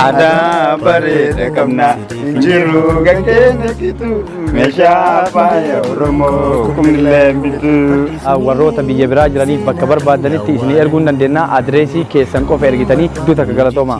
Aadaa bareeda qabna hin jiru kan keenya gitu meeshaa faaya Oromoo kumillee bitu. warroota biyya biraa jiraniif bakka barbaadanitti isinii erguu ni dandeenya. Adireesii keessan qofa ergitanii iddoo takka galatooma.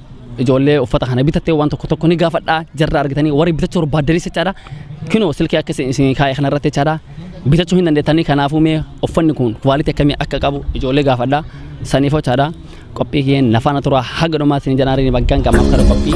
ijoollee uffata kana bitattee waan tokko tokko ni gaafadha jarra argitanii warri bitachuu barbaaddanis jechaadha kinoo silkii akka isin isin kaa'e kana irratti jechaadha bitachuu hin dandeettanii kanaafuu mee uffanni kun kuwaalitii akkamii akka qabu ijoollee gaafadha saniif jechaadha qophii kiyeen nafaana turaa haga dhumaa isin janaariin baggaan qamaaf kara qophii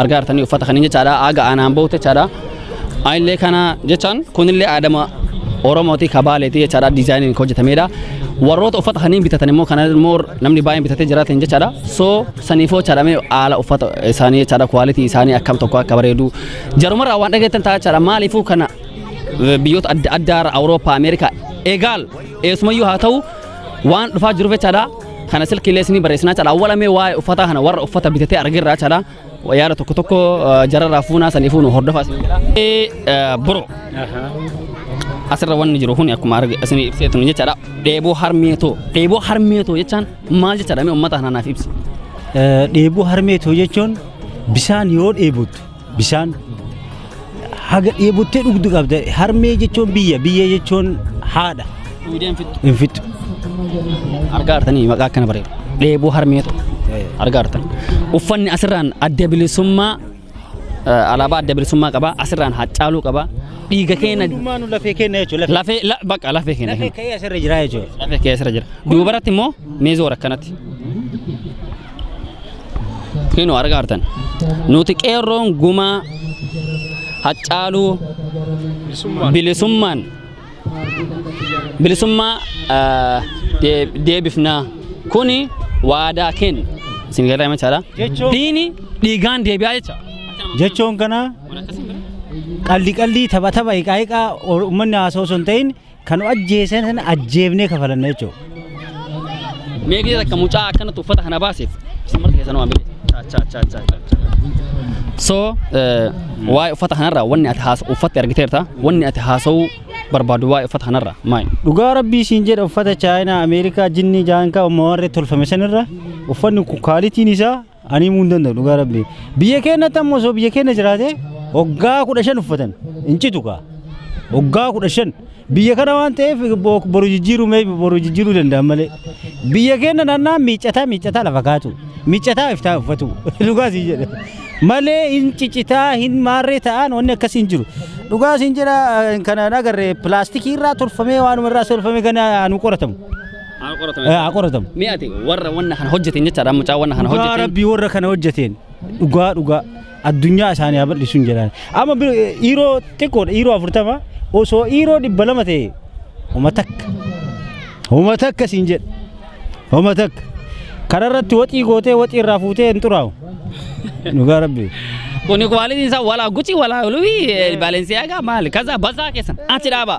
argaa jirtanii uffata kanin jechaadha aaga aanaan bahutti jechaadha aanillee kana jechaan kunillee aadama oromooti kabaaleeti jechaadha diizaayiniin kan hojjetameedha warroota uffata kanin bitatan immoo kana immoo namni baay'een bitatee jiraateen jechaadha soo saniifoo jechaadha mee haala uffata isaanii jechaadha kwaalitii isaanii akkam tokko akka bareedu jarumarraa waan dhageettan ta'a jechaadha maaliifuu kana biyyoota adda addaa irra awurooppaa ameerikaa eegaal eessumayyuu haa ta'u waan dhufaa jiruuf jechaadha Kana silkiilee isinii barreessinaa cala awwala mee waa'ee uffataa kana warra uffata bitatee argerraa cala yaada tokko tokko jararraa fuunaa saniifuu nu hordofaa isin jedha. Bro asirra wanni jiru kun akkuma arge isinii ibseetu ni jechaadha dheeboo harmee too dheeboo harmee too jechaan maal jechaadha mee uummata kana naaf ibsi. Dheebuu harmee too jechuun bisaan yoo dheebottu Bishaan haga dheebottee dhugdu qabda. Harmee jechuun biyya, biyya jechuun haadha. Duudeen fixxu. Hin fixxu. Argaa artanii maqaa akkana bareedu. Dheebuu harmee ta'u. Argaa artan. Uffanni asirraan adda bilisummaa eh, alaabaa adda bilisummaa qaba. Asirraan haccaaluu qaba. Dhiiga keenya Hundumaa nu lafee keenya jechuudha. Lafee. lafee la- bakka lafee keenya. Lafee ka'ee asirra jira jechuudha. Lafee keessa jira. Duubaratti immoo meezoora akkanatti. Kinu argaa artan. Nuti qeerroon gumaa haccaaluu bilisummaan bilisummaa ah, dee- deebifnaa kuni waadaa kenna. Isin garee machaadha. Jechuun- Diini dhiigaan deebi'aa jecha. jechuun kana qalli qalli tapha tapha hiqaa hiqaa uummanni haasoo osoo hin ta'in Kan nu ajjeesan sana ajjeefnee kafalanna jechuudha. Mee gidee takka mucaa akkanatti uffata kana baaseef isin marti keessanuu waan beektu. Chaa chaa chaa chaa chaa chaa. So eh, waa'ee uffata kanarraa wanni ati haasa'u uffatti argiteerta wanni ati haasa'uu barbaadu waa'ee uffata kanarraa maal? Dhugaa rabbii siin jedha uffata chaayinaa Ameerikaa jinnii jaankaa ummawarree tolfame sanirra uffanni kun kaalitiin isaa Ani himuu hin danda'u dhugaa rabbi. Biyya keenyatti ammoo osoo biyya keenya jiraate waggaa kudha shan uffatan hin citu kaa. Waggaa kudha shan biyya kana waan ta'eef bo- boru jijjiiruu mee boru jijjiiruu danda'an malee. Biyya keenya naannaa miiccataa miiccataa lafa kaatu. Miiccataa iftaa uffatu. Dhugaa siin jedhe. Malee hin cicitaa hin maarree ta'an wanni akkasii hin jiru. Dhugaa siin jedha eh, kana hin agarre pilaastikii irraa tolfamee waanuma irraa tolfamee kana nu qoratamu. Haa qoratamu. Eh, haa qoratamu. Mee ati warra wanna kana hojjeteen jechaadha mucaa wanna kana Dhugaa hojjeteen. rabbii warra kana hojjeteen dhugaa dhugaa addunyaa isaanii haa bal'isuun jedhaan. Amma bir- eh, dhiiroo xiqqoodha dhiiroo afurtama osoo dhiiroo dhibba lama ta'e homa takka homa takka siin jedha homa takka kanarratti waxii gootee waxii irraa fuutee hin xuraa'u dhugaa rabbii. Kuni kwaalitiin isaa walaa gucii walaa olii baalensiyaagaa maali kaza basaa keessan achi dhaabaa.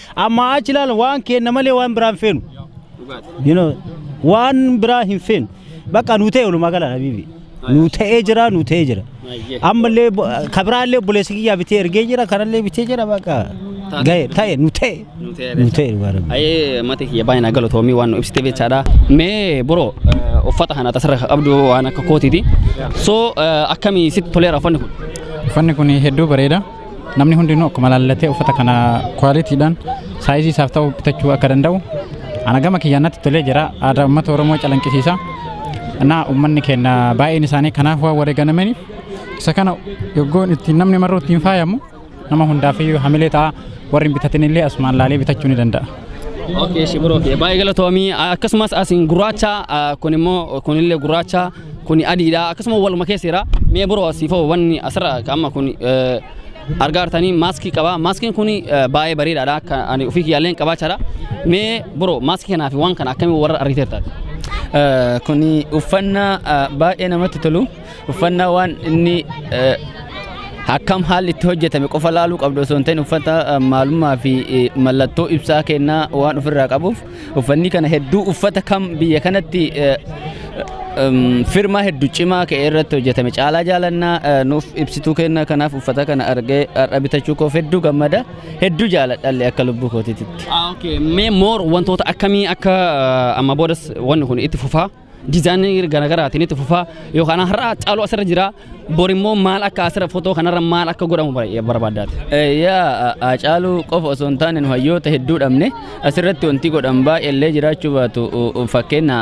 Ammaa achi ilaalan waan keenna malee waan biraa hin feenu. You know, waan biraa hin feenu. Bakka nuu ta'e walumaa gala habiibi. Nuu ta'ee jira, nuu ta'ee jira. Ammallee bo- ka biraallee obboleessi kiyyaa bitee ergee jira, kanallee bitee jira bakka. Ga'e ta'e nuu ta'e. Nuu ta'e dhugaa rabbi. Ayee mati kiyya baay'ee na galatoomii waan nu ibsite beektaadha. Mee bro eh, uffata kana tasarra ka qabdu waan akka kootiiti. So eh, akkamii sitti toleera uffanni kun? Uffanni kun hedduu bareeda. Namni hundinuu akkuma laallatee uffata kana kwaalitiidhaan saayizii isaaf ta'u bitachuu akka danda'u ana gama kiyyaan natti tolee jira aadaa uummata Oromoo calanqisiisa. Naa uummanni keenya baay'een isaanii kanaaf waan wareegamaniif isa kana yoggoon ittiin namni marroo ittiin faayamu nama hundaaf iyyuu hamilee ta'a warri hin bitatin illee asumaan laalee bitachuu ni danda'a. Okay, shibiroo fi baay'ee galatoomii akkasumas asiin gurraacha kun immoo kunillee gurraacha Kuni adiidha akkasuma waluma keessa jira. Mee biroo asii fa'oo wanni asirra amma kun argaa jirtanii maaskii qaba. Maaskiin kun baay'ee bareedaadha akka ani ofii kiyyaalleen qabaachaadha. Mee biroo maaskii kanaa fi waan kana akkamiin warra argiteerta? Kuni uffannaa baay'ee namatti tolu. Uffannaa waan inni akkam haalli itti hojjetame qofa laaluu qabdu osoo hin ta'in uffata maalummaa fi mallattoo ibsaa kennaa waan ofirraa qabuuf Uffanni kana hedduu uffata kam biyya kanatti firmaa hedduu cimaa ka'e irratti hojjetame caalaa jaalannaa nuuf ibsituu kenna kanaaf uffata kana argee har'a bitachuu koof hedduu gammada hedduu jaaladhalle akka lubbuu kootiititti. Mee moor wantoota akkamii akka amma boodas wanni kun itti fufaa? dizaayinii garaagaraatiin itti fufaa yookaan har'a caalu asirra jira bor immoo maal akka asirra footoo kanarra maal akka godhamu barbaaddaati. Yaa caalu qofa osoo hin taane nu hayyoota hedduu dhabne asirratti wanti godhan baay'eellee jiraachuu baatu fakkeenya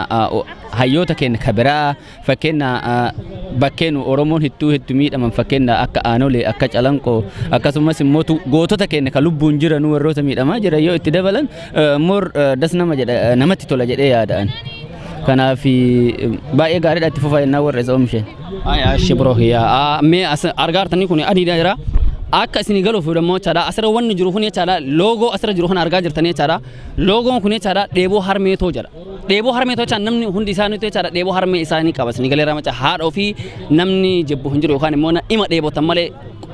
hayyoota keenya ka biraa fakkeenya bakkeen Oromoon hedduu hedduu miidhaman fakkeenya akka aanolee akka calanqoo akkasumas immoo gootota keenya ka lubbuun jiran warroota miidhamaa jiran yoo itti dabalan Moor das nama jedha namatti tola jedhee yaada ani. Kanaaf baay'ee gaariidha itti fufaa jennaan warra isa oomishe. Aya shi bro ya me as argartani kun adi daira akka isini galu fi damo chada asira wanni jiru kun chada logo asira jiru kun arga jirtani chada logo kun chada debo harme to jira dheebuu harmee tolchaan namni hundi isaanii jechaadha dheebuu harmee isaanii qaba isin galeera maca haadha ofii namni jibbu hin jiru yookaan immoo na- ima dheebotan malee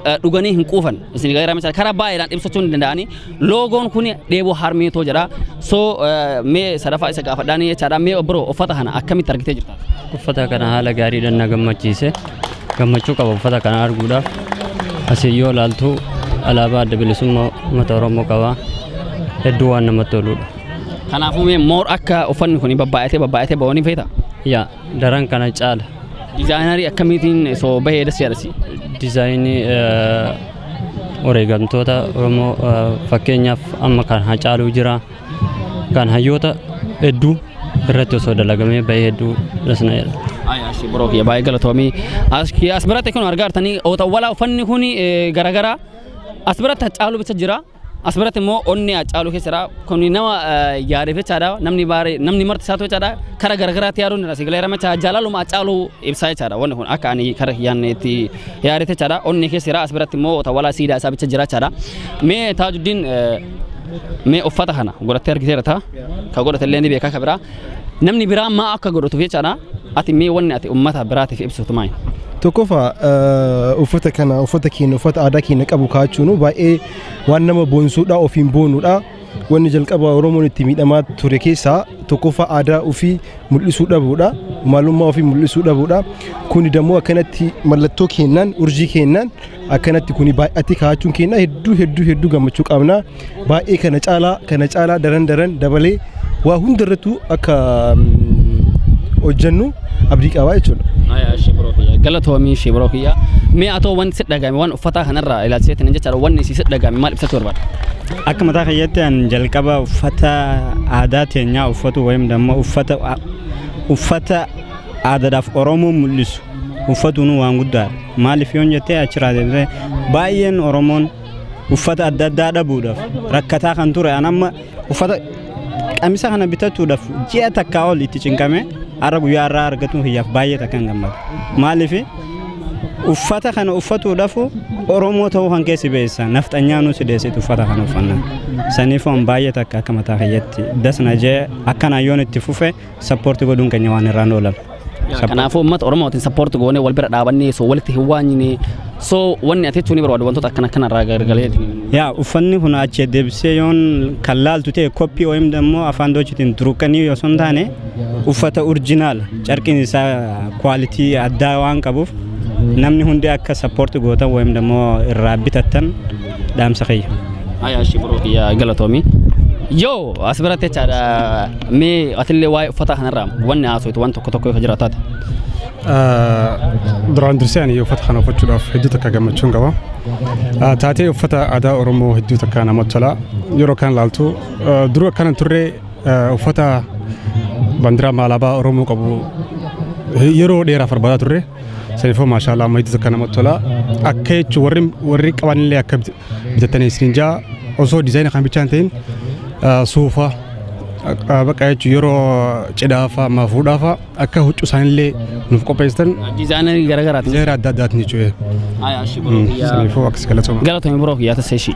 eh, dhuganii hin quufan isin galeera maca karaa baay'eedhaan ibsachuu hin danda'ani loogoon kun dheebuu harmee too jedha soo eh, mee sadaffaa isa gaafadhaanii jechaadha mee obboro uffata kana akkamitti argitee jirta uffata kana haala gaariidhaan na gammachiise gammachuu qaba uffata kana arguudhaaf asii yoo ilaaltu alaabaa adda bilisummaa uummata oromoo qaba hedduu waan namatti toludha Kanaafuu mee moor akka uffanni kun babbaayatee babbaayatee ba'oon feeta. Yaa daran kana caala. Dizaayinarii akkamiitiin osoo bahee das yaadasi. Dizaayinii wareegamtoota Oromoo fakkeenyaaf amma kan hacaaluu jira. Kan hayyoota hedduu irratti osoo dalagamee bahee hedduu das na jedha. Ayaashi biroo kiyya baay'ee galatoomii. As biratti kun argaa jirtanii ootawwalaa uffanni kun garaagaraa as biratti hacaaluu bicha jira. As biratti immoo onnee Haacaaluu keessa jira. Kun nama yaadeef jechaadha. Namni baaree namni marti isaatu jechaadha. Kara garagaraatti yaaduun irra si galeera jechaadha. Jaalaluma Haacaaluu ibsaa jechaadha. Wanni kun akka ani kara yaadne itti yaade jechaadha. Onnee keessa jira. As biratti immoo tawwalaa siidaa isaa bicha jira jechaadha. Mee Taajuddiin mee uffata kana godhattee argiteera ta'a. Ka godhate illee ni beekaa ka biraa. Namni biraa maa akka godhatuuf jechaadha. Ati mee wanni ati uummata biraatiif ibsitu maali? Tokkoffaa eh, uffata kana uffata keenya uffata aadaa keenya qabu kaa'achuun baay'ee waan nama boonsuudha ofiin boonuudha. Wanni jalqaba Oromoon itti miidhamaa ture keessaa tokkoffaa aadaa ofii mul'isuu dhabuudha. Maalummaa ofii mul'isuu dhabuudha. Kuni dammoo akkanatti mallattoo keenyaan urjii keenyaan akkanatti kuni baay'atee kaa'achuun keenya hedduu hedduu hedduu gammachuu qabna. baay'ee kana caalaa kana caalaa daran daran dabalee waa hundarrattuu akka hojjennu abdii qabaa jechuudha. Ayaa shibiroo kiyya galatoomii shibiroo kiyya mee atoo wanti si dhagame waan uffataa kanarraa ilaalchiseetiin jechaadha wanni si dhagame maal ibsachuu barbaada? Akka mataa kiyyaatti an jalqaba uffata aadaa teenyaa uffatu wayim damma uffata uffata aadaadhaaf Oromoo mul'isu uffatuun waan guddaadha. Maaliif yoon jettee achirraa deebisee baay'een Oromoon uffata adda addaa dhabuudhaaf rakkataa kan ture an amma uffata qamisa kana bitachuudhaaf ji'a takkaa ol itti cinqame har'a guyyaa irraa argatuun kiyyaaf baay'ee takkan gammada maaliif uffata kana uffatuudhaaf oromoo ta'uu kan keessi beessa nafxanyaa nu sideessitu uffata kana uffanna saniif waan baay'ee takka akka mataa kiyyatti dasna jee akkanaan yoon itti fufe sappoorti godhuun keenya waan irraan oolan. Kanaafuu uummata Oromootiin sappoorti goonee wal bira dhaabannee soo walitti hin waanyine soo wanni ati jechuun ni barbaadu wantoota akkana akkana irraa gargalee. Yaa uffanni kun achi deebisee yoon kan laaltu ta'e koppii OM immoo afaan doochitiin turuqanii osoo hin taane uffata urjinaal carqiin isaa kwaalitii addaa waan qabuuf namni hundi akka sappoorti gootan OM immoo irraa bitattan dhaamsa kiyya. Haya ashi bro kiyya galatoomi. Yoo as biratti jechaadha mee atillee waa'ee uffataa kanarraa wanni haasoftu waan tokko tokko yoo jira taate. Duraan dursee ani uffata kana uffachuudhaaf hedduu takka gammachuun qaba. Ah, Taatee uffata aadaa Oromoo hedduu takka namatti tola. Yeroo kan ilaaltu ah, duruu akkana hin turre ah, uffata bandiraa maalaabaa Oromoo qabu eh, yeroo dheeraaf barbaadaa turre. Saniifoo maashaallah amma itti akka namatti tola. Akka jechuun warri warri qaban illee akka bit- bitatanii isin jaa osoo dizaayina kan bichaan ta'in ah, suufa ah, bakka jechuun yeroo cidhaafa amma fuudhaafa akka huccuu isaanillee nuuf qopheessitan Dizaayinarii garagaraati. dizaayina adda addaatiin jechuudha. Haa yaa ishii biroo kiyyaa. Saniifoo akkas galatooma. Galatoomi biroo kiyyaa tasee ishii.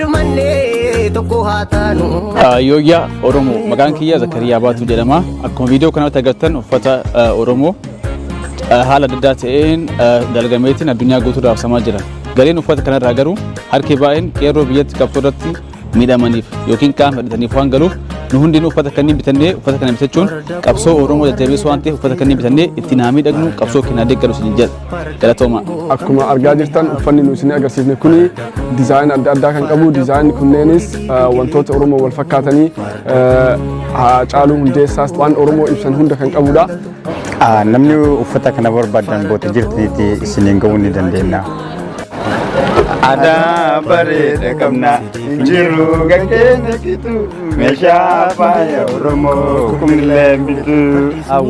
Dhumannee tokko haa taanu. Yooyyaa Oromoo maqaan kiyya Zakariyaa Baatuu jedhama. Akkuma viidiyoo kanarratti agartan uffata eh, Oromoo eh, haala adda addaa ta'een eh, dalagameetiin addunyaa guutuu raabsamaa jira. Galiin uffata kanarraa garuu harki baay'een qeerroo biyyatti qabsoo irratti miidhamaniif yookiin qaama fedhataniif waan galuuf nu hundeen uffata kanneen bitannee uffata kana bitachuun qabsoo Oromoo jajjabeessuu waan ta'eef uffata kanneen bitannee ittiin haa miidhagnu qabsoo keenyaa deeggaru isin jedha. Galatooma. Akkuma argaa jirtan uffanni nu isin agarsiifne kuni dizaayina adda addaa kan qabu dizaayinni kunneenis eh, wantoota Oromoo wal fakkaatanii eh, Haacaaluu Hundeessaas waan Oromoo ibsan hunda kan qabudha. Ah, Namni uffata kana barbaadan boota jirtiitti isiniin ga'uu ni dandeenya. Aadaa bareeda qabna hin jiru gaggeenya gitu. Meeshaa faaya Oromoo kumillee bitu.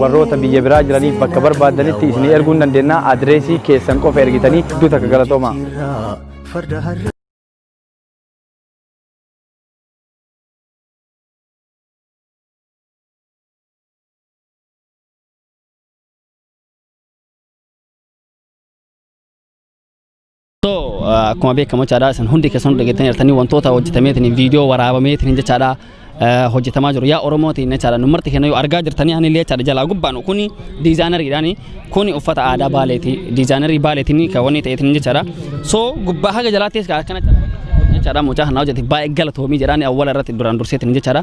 warroota biyya biraa jiraniif bakka barbaadanitti isinii erguu ni dandeenya. Adireesii keessan qofa ergitanii hedduu takka galatoomaa. Farda harra So, ah, akkuma beekamu jechaadha isin hundi keessan dhageettanii jirtanii wantoota hojjetameetiin viidiyoo waraabameetiin jechaadha ah, hojjetamaa jiru yaa oromootiin jechaadha nu marti kennayyuu argaa jirtanii ani illee jechaadha jalaa gubbaan kuni diizaanariidhaan kuni uffata aadaa baaleeti diizaanarii baaleetiin kan wanni ta'eetiin jechaadha so gubbaa haga jalaattis kan akkana jechaadha mucaa kanaa hojjete baay'ee galatoomii jedhaan awwala irratti duraan durseetiin jechaadha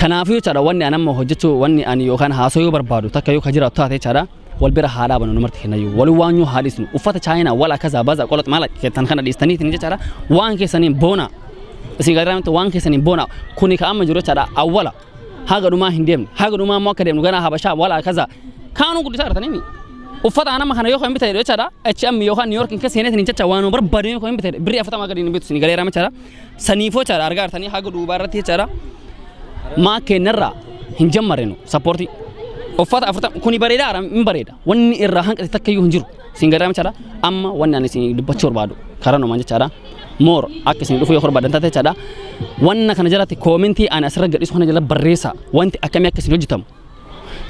kanaafuu jechaadha wanni ani amma hojjechuu wanni ani yookaan haasoo yoo barbaadu takka yoo ka jiraatu taate jechaadha wal bira haa dhaabanu numarti kennayyuu wal waanyuu haa dhiisnu uffata chaayinaa wal akkasaa baza qolox maala keessan kana dhiistaniitiin jechaadha waan keessaniin boona isin gargaaramitti waan keessaniin boona kuni ka amma jiru jechaadha awwala haga dhumaa hin deemne haga dhumaa immoo akka deemnu ganaa habashaa wal akkasaa kaanuu guddisaa artanii uffata anama kana yoo kan bitadhe jechaadha H&M yookaan New York hin keessaniitiin jecha waan barbaadee yoo kan bitadhe birrii afatamaa gadi hin bitu isin galeeraa jechaadha Saniifoo jechaadha argaa jirtanii haga duubaa irratti jechaadha. Maa kennarraa hin jammarrenu sappoortii. Uffata afurtama kuni bareeda ara hin bareeda. Wanni irraa hanqate takka iyyuu hin jiru. Siin gadaa jechaadha. Amma wanni ani isin dubbachuu barbaadu karaa numaan jechaadha. Moor akka isin dhufuu yoo barbaadan taate jechaadha. Wanna kana jalatti koomentii ani asirra gadhiisu kana jala barreessaa. Wanti akkamii akka isin hojjetamu.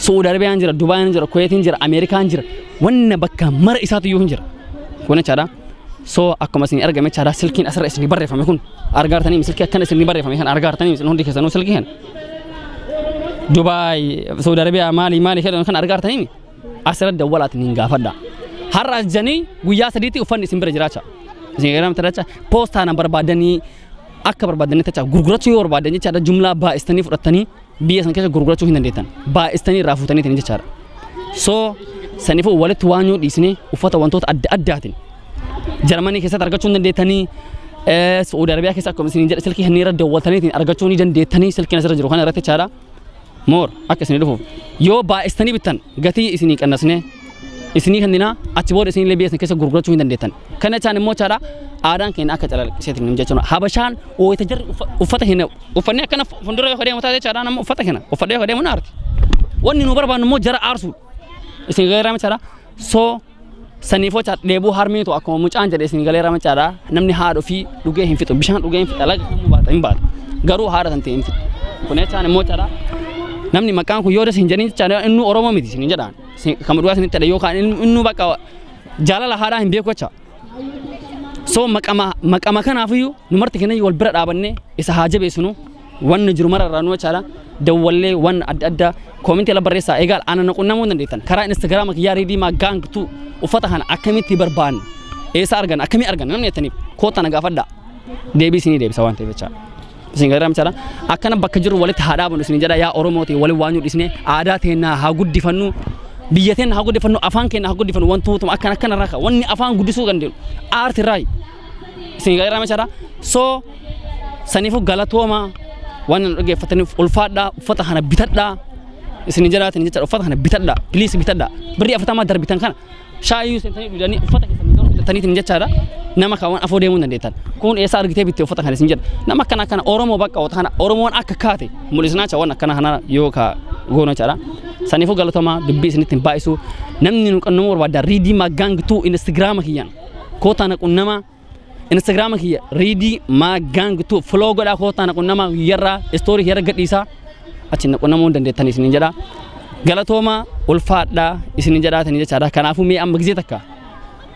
Su'uudi Arabiyaan jira, Dubaayin jira, Kuweetiin jira, Ameerikaan jira. Wanna bakka mara isaatu iyyuu hin jira. Kun jechaadha. So akkuma isin argame jechaadha silkiin asirra isin barreeffame kun argaartanii silkii akkana isin barreeffame kan argaartanii isin hundi keessanuu silkii kana. Dubaay, Suudi Arabiyaa maali maali jedhan kan argaartanii asirra dawwalaatiin hin gaafadha. Har'a as janii guyyaa sadiitti uffanni isin bira jiraacha. Isin eegalamte jecha poostaan barbaadanii akka barbaadanii jecha gurgurachuu yoo barbaadan jechaadha jumlaa baay'istanii fudhattanii biyya san keessa gurgurachuu hin dandeettan baay'istanii irraa fuutaniitiin jechaadha soo sanifuu walitti waan yoo dhiisne uffata wantoota adda addaatiin jarmanii keessatti argachuu hin dandeettanii eh, su'uudi arabiyaa keessa akkuma isin jedhe silkii hanniirra dawwaltaniitiin argachuu ni dandeettanii silkiin asirra jiru kana irratti jechaadha moor akka isin dhufuuf yoo baay'istanii bittan gatii isinii qannasnee isinii kenninaa achi booda isinillee biyya isin keessa gurgurachuu hin dandeettan. Kana jechaan immoo jechaadha aadaan keenya akka calaqqiseetiin hin jechuudha. Habashaan wayita jarri uffa- uffata keenya uffannee akkana fuuldura yoo deemu taate jechaadha nama uffata keenya uffadhee yoo deemu na aarti. Wanni nu barbaannu immoo jara aarsuudha. Isin galeeraa jechaadha soo saniif jecha dheebuu harmeetu akkuma mucaan jedhe isin galeeraa jechaadha namni haadha ofii dhugee hin fixu bishaan dhugee hin fixa laga kamuu baata hin baata garuu haadha tan ta'e hin fixu. Kun jechaan immoo jechaadha namni maqaan kun yoo das hin jedhin jechaadha inni Oromoo miti isin hin jedhaan. kama dhugaa isinitti jedha yookaan innuu bakka jaalala haadhaa hin beeku jecha. So maqama maqama kanaafiyyuu nu marti keenya wal bira dhaabannee isa haa jabeessinu wanni jiru mara irraa nu jechaadha. Dawwallee waan adda addaa koomintii ala barreessaa eegaal ana na qunnamuu hin dandeettan karaa instagiraama kiyyaa riidii maa gaang tuu uffata kana akkamitti barbaanna eessa arganna akkamii arganna namni jettaniif koottaa na gaafadhaa deebii isinii deebisa waan ta'eef jechaadha. isin gargaaram jedha akkana bakka jirru walitti haa dhaabnu isin jedha yaa oromooti waliin waan dhisne aadaa teennaa haa guddifannu biyya teenna haa guddifannu afaan keenya haa guddifannu wantootuma akkana akkana irraa wanni afaan guddisuu dandeenyu aarti irraa isin gargaaram jedha soo saniifuu galatooma waan nu dhaggeeffataniif ulfaadhaa uffata kana bitadhaa isin jedhaatiin jecha uffata kana bitadhaa piliis bitadhaa birrii afatamaa darbitan kana Shaayii seentanii dhugdanii uffata keessan hin hojjetaniitiin jechaadha. Nama kan waan afoo deemuu hin dandeettan. Kun eessaa argitee bitte uffata kan isin jedha. Nama akkana akkana Oromoo bakka wata kana Oromoon akka kaate mul'isnaa jecha waan akkana kana yoo ka goona jechaadha. Saniifuu galatomaa dubbii isinitti hin baay'isu. Namni nu qannamuu barbaaddan riidii maggaang tuu instagiraama kiyyaan kootaa na qunnamaa. Instagiraama kiyya riidii maa gaang tu filoo godhaa kootaa na qunnamaa guyyarraa istoorii kiyya irra gadhiisaa achi na qunnamuu hin dandeettan isiniin jedhaa. Galatoomaa ulfaadhaa isiniin jedhaatanii jechaadha. Kanaafuu mee amma gizee takka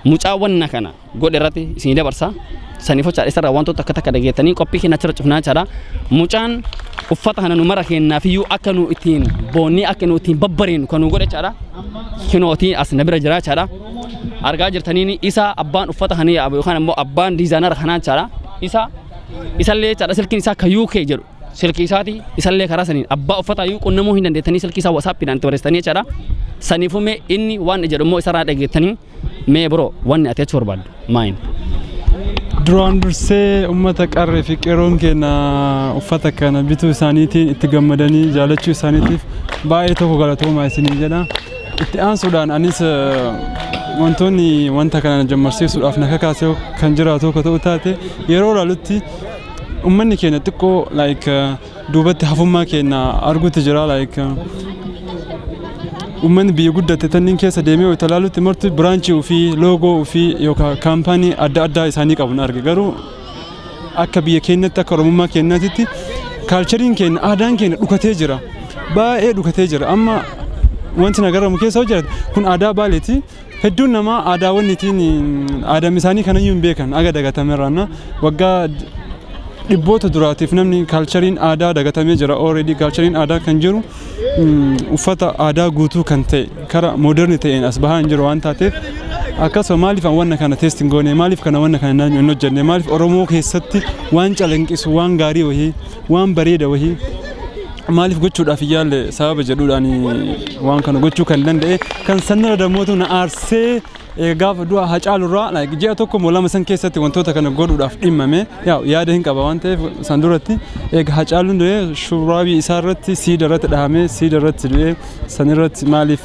mucaa wanna kana godhe irratti isinii dabarsa. Saniif hojjaa isarraa wantoota akka takka dhageettanii qophii keenya achirra cufnaa jechaadha. Mucaan uffata kana nu mara keenyaafiyyuu akka nu ittiin boonnee akka nu ittiin babbareenu kan nu godhe jechaadha. Kinootii as na bira jira jechaadha. argaa jirtaniin isa abbaan uffata kana yaaba yookaan immoo abbaan diizaanara kanaa jechaadha. Isa isallee jechaadha silkiin isaa akka UK jedhu silkii isaati isallee karaa saniin abbaa uffata iyyuu qunnamuu hin dandeettanii silkii isaa wasaappiidhaan itti barreessitanii jechaadha. Saniifuu mee inni waan jedhu immoo isarraa dhageettanii mee biroo wanni ati jechuu barbaaddu. Mine. Duraan dursee uummata qarree fi qeerroon keenya uffata kana bituu isaaniitiin itti gammadanii jaalachuu isaaniitiif baay'ee tokko galatoomaa isiniin jedha. Itti aansuudhaan anis wantoonni wanta kana jammarsiisuudhaaf na kakaasee kan jiraatu akka ta'u taate yeroo ilaalutti uummanni keenya xiqqoo like duubatti hafummaa keenya arguutti jira like uummanni biyya guddatte tanniin keessa deemee wayita ilaalutti marti biraanchii ofii loogoo ofii yookaan kaampaanii adda addaa isaanii qabu na arge garuu akka biyya keenyatti akka oromummaa keenyaatti kaalchariin keenya aadaan keenya dhukatee jira baay'ee dhukatee jira amma wanti na garamu keessa hojjate kun aadaa baaleeti Hedduun namaa aadaawwan ittiin aadaan isaanii kanayyuu hin beekan aga dagatamerraanna waggaa dhibboota duraatiif namni kaalchariin aadaa dagatamee jira already kaalchariin aadaa kan jiru uffata aadaa guutuu kan ta'e kara mooderni ta'een as bahaa hin jiru waan taateef akkasuma maaliif wanna kana teesti hin goone maaliif kana wanna kana naannoo hin hojjenne maaliif oromoo keessatti waan calanqisu waan gaarii wahii waan bareeda wahii maaliif gochuudhaaf hin yaalle sababa jedhuudhaan waan kana gochuu kan danda'e kan sanirra damootu na aarsee eh, gaafa du'a hacaalurraa like, ji'a tokko moo lama san keessatti wantoota kana godhuudhaaf dhimmame yaa yaada hin qaba waan ta'eef san duratti eega hacaaluun du'ee shurraabii isaa irratti siida irratti dhahamee siida irratti du'ee san irratti maaliif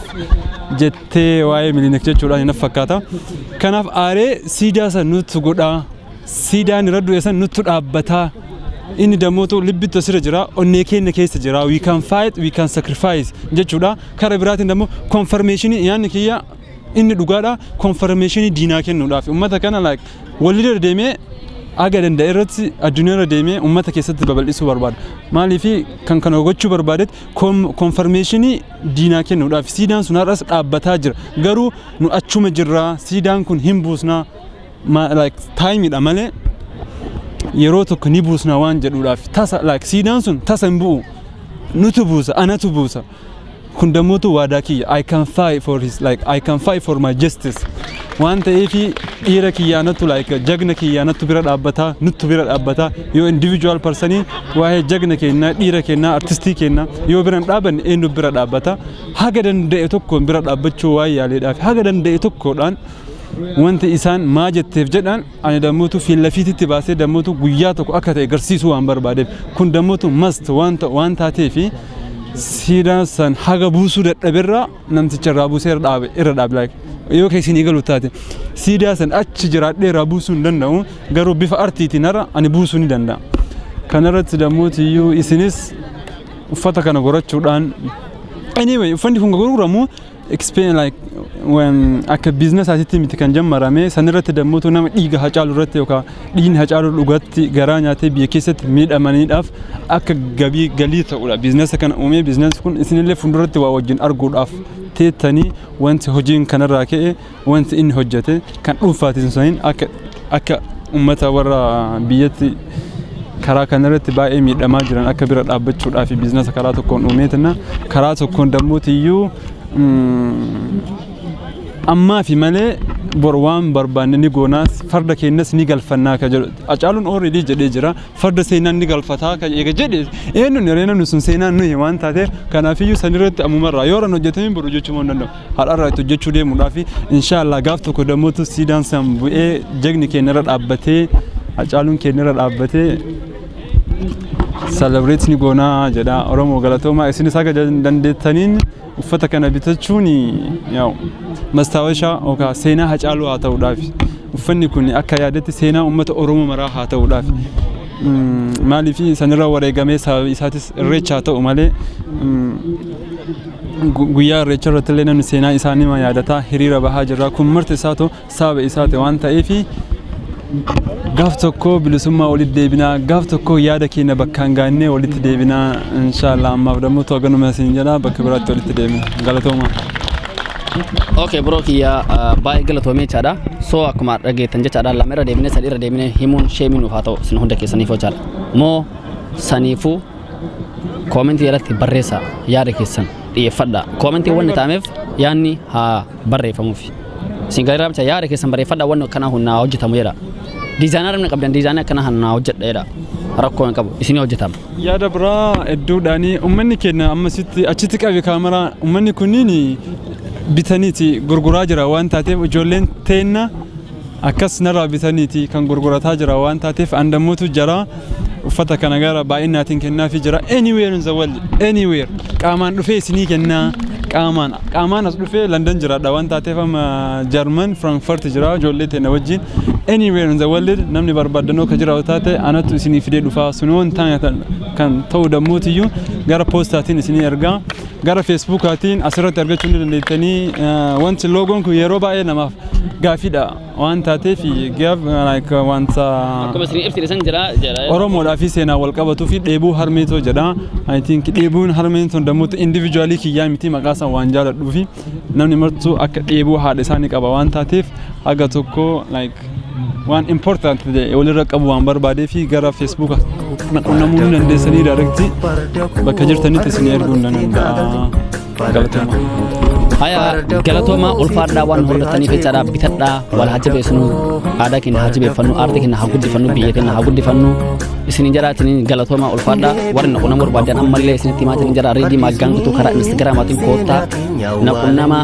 jettee waa'ee milinik jechuudhaan hin fakkaata kanaaf aaree siidaa san nutti godhaa Siidaan irra du'e san nuttu dhaabbataa. Inni dammootu libbitti asirra jira, onnee keenya keessa jira. We can fight, we can sacrifice jechuudha. Kara biraatiin dammoo konfarmeeshinii yaanni kiyya inni dhugaadha. Konfarmeeshinii diinaa kennuudhaaf uummata kana like walirra deemee aga danda'e irratti addunyaa irra deemee uummata keessatti babal'isuu barbaada. Maaliif kan kana gochuu barbaadetti konfarmeeshinii diinaa kennuudhaaf siidaan sun har'as dhaabbataa jira. Garuu nu achuma jirra siidaan kun hin buusna. ma like time dha malee yeroo tokko ni buusna waan jedhuudhaaf tasa like siidaan sun tasa hin bu'u nutu buusa anatu buusa kun dammootu waadaa kiyya I can fight for his like I can fight for my justice waan ta'eefi dhiira kiyyaanatu like jagna kiyyaanatu bira dhaabbataa nuttu bira dhaabbataa yoo individual persanii waa'ee jagna keenyaa dhiira keenyaa artistii keenyaa yoo bira hin dhaabanne eenyu bira dhaabbata haga danda'e tokkoon bira dhaabbachuu waan yaaleedhaaf haga danda'e tokkoodhaan Wanti isaan maa jetteef jedhaan ani dammutu fiillafiititti baasee dammutu guyyaa tokko akka ta'e garsiisuu waan barbaadeef kun dammutu mast waan taatee fi siidaa san haga buusuu dadhaberraa namticha irraa buusee irra dhaabe irra dhaabe like yoo keessi ni galu taate siidaa san achi jiraadhee irraa buusuu hin danda'u garuu bifa artiitiin irra ani buusuu ni danda'a. Kanarratti dammuti iyyuu isinis uffata kana gorachuudhaan anyway uffanni kun gurguramu It's been like when akka business asitti miti kan jammarame sanirratti dammuutu nama dhiiga hacaalu irratti yookaan dhiigni hacaalu dhugatti garaa nyaatee biyya keessatti miidhamaniidhaaf akka gabii galii ta'udha. Business kana uumee business kun isinillee fuulduratti waa wajjin arguudhaaf teettanii wanti hojiin kanarraa ka'e Wanti inni hojjete kan dhuunfaatiin osoo hin akka akka uummata warra biyyatti karaa kanarratti baay'ee miidhamaa jiran akka bira dhaabbachuudhaa fi biizinasa karaa tokkoon uumeetina karaa tokkoon dammuutiyyuu ammaa fi malee bor waan barbaanne ni goonaas farda keenyas ni galfannaa ka jedhu acaaluun ooredii jedhee jira farda seenaan ni galfataa ka eega jedhe eenyuun hiree namni sun seenaan nuyi waan taateef kanaafiyyuu sanirratti ammumarraa yoo ran hojjetamee boru jechuu hin danda'u. har'arraa itti hojjechuu deemuudhaaf inshaallah gaaf tokko dammotu siidaan san bu'ee jagni keenyarra dhaabbatee hacaaluun keenyarra dhaabbatee celebrate ni goonaa jedha oromoo galatoomaa isinis haga dandeettaniin uffata kana bitachuun yaa'u mastaawashaa yookaan seenaa hacaaluu haa ta'uudhaaf uffanni kun akka yaadatti seenaa uummata oromoo maraa haa ta'uudhaaf maaliif sanirra wareegamee sababa isaatis irreecha haa ta'u malee guyyaa irreecha irratti illee namni seenaa isaa nima yaadataa hiriira bahaa jirra kun marti isaatu saaba isaati waan ta'eef gaaf tokko bilisummaa walitti deebinaa gaaf tokko yaada keenya bakkaan gaannee walitti deebinaa inshaallah ammaaf dammoo to'aganuma isin jedha bakka biraatti walitti deebina galatoomaa. Okay bro kiyya uh, baay'ee galatoomee jechaadha. So akkuma dhageettan jechaadha lama irra deebinee sadii irra deebinee himuun sheemii nuuf haa ta'u isin hunda keessaniif jechaadha. Moo saniifuu koomentii irratti barreessaa yaada keessan dhiyeeffadhaa. Koomentii wanni ta'ameef yaadni haa barreeffamuuf. Isin galeeraa bicha yaada keessan barreeffadhaa wanni akkanaa kun naa hojjetamu jedha. Diizaayinaa namni qabdan diizaayinaa akkanaa kan naa hojjedha jedha. Rakkoo hin qabu isinii hojjetama. Yaada biraa hedduudhaani uummanni keenya ammasitti achitti qabe kaameraa uummanni kunniin bitaniiti gurguraa jira waan taateef ijoolleen teenna Akkas narraa bitaniiti kan gurgurataa jira waan taateef and ammotu jara uffata kana gara baay'inaatiin kennaafi jira anywhere in the world anywhere qaamaan dhufee isinii kennaa qaamaan qaamaan as dhufee London jiraadha waan taateef amma German Frankfurt jira ijoollee teena wajjin anywhere in the world namni barbaaddanoo ka jiraatu taate anatu isinii fidee dhufaa sun waan taane kan ta'u dammootiyyu gara poostaatiin isinii ergaa Gara Feesbuukaatiin asirratti argachuu ni dandeettanii. Wanti loogoon kun yeroo baay'ee namaaf gaaffiidha waan taateef wanta Akkuma isin ibsite san jira jira. Oromoodhaa fi seenaa wal qabatuu fi dheebuu harmee too jedha. I think dheebuun harmeen tun dammuutti individualii kiyyaa miti maqaa isaa waan jaaladhuu fi namni martuu akka dheebuu haadha isaa ni qaba waan taateef haga tokko like waan important ta'e walirra qabu waan barbaadee fi gara feesbuuka kana qunnamuu ni dandeessanii daayirekti bakka jirtanitti isin erguu ni danda'a. Galatoomaa. Haya galatoomaa ulfaadhaa waan hordataniif jechaadha bitadhaa wal haa jabeessinu aadaa keenya haa jabeeffannu aartii keenya haa guddifannu biyya keenya haa guddifannu isinin jaraatinin galatoomaa ulfaadhaa warri naqunna barbaadan ammallee isinitti himaatiin jara reedii maaggaan guutuu karaa instagiraamaatiin koottaa naqunnamaa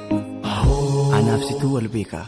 Anaaf situu wal beekaa.